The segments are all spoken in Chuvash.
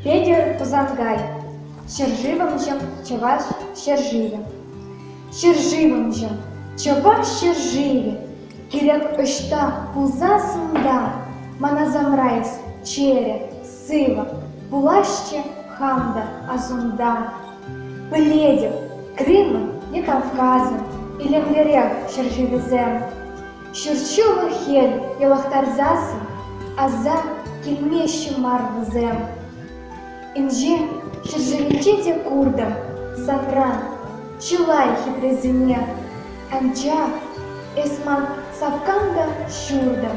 Петӗр Пусанкай ҫӗршывӑмҫӑм чӑваш ҫӗршывӗ ҫӗршывӑмҫӑм чӑваш ҫӗршывӗ кирек ӑҫта пулсассӑн та мана самрайс чӗрӗ Сывӑ пуласчӗ хам та асунта. Пӗлетӗп, Крымӑн е Кавказӑн илемлӗрех ҫӗршывӗсем. Ҫурҫуллӑ хӗл йӑлӑхтарсассӑн аса килмеҫҫӗ мар вӗсем. Инҫен ҫӗршывӗнче те куртӑм сапран чылай хитресене, анчах эс ман сапкам та ҫуртӑм.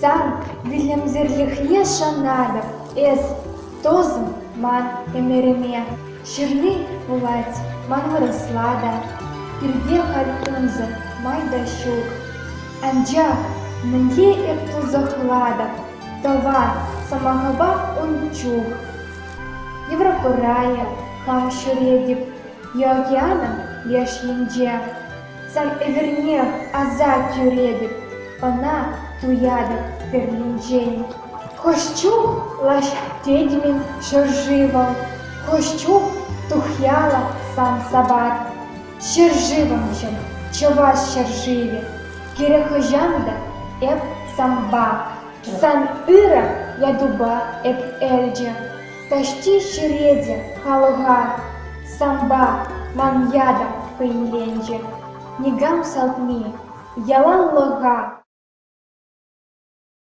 Сан вилӗмсӗрлӗхне шанатӑп эс, тусӑм, ман ӗмӗрӗме. Ҫырни пулать, ман вырӑсла та, пирте халь кунсӑр май та ҫук. Анчах мӗнле эп тунсӑхлатӑп тӑва сӑмахӑпа ун чух? Еврокурая хам ҫӳретӗп, Е океанӑн леш енче. Сан ӗмӗрне аса кӳретӗп, ӑна туятӑп пӗринчен. Хӑш чух лаҫ тетӗн-мӗн ҫӗршывӑм, Хӑш чух тухьяла сан сапат. Ҫӗршывӑмшӑн чӑваш ҫӗршывӗ, Кирек хӑҫан та эп санпа, Сан ырӑ ятупа эп элчӗ. Таҫти черете халӑха сампа ман ята хӑйнеленчӗ. Никам салтни яланлӑха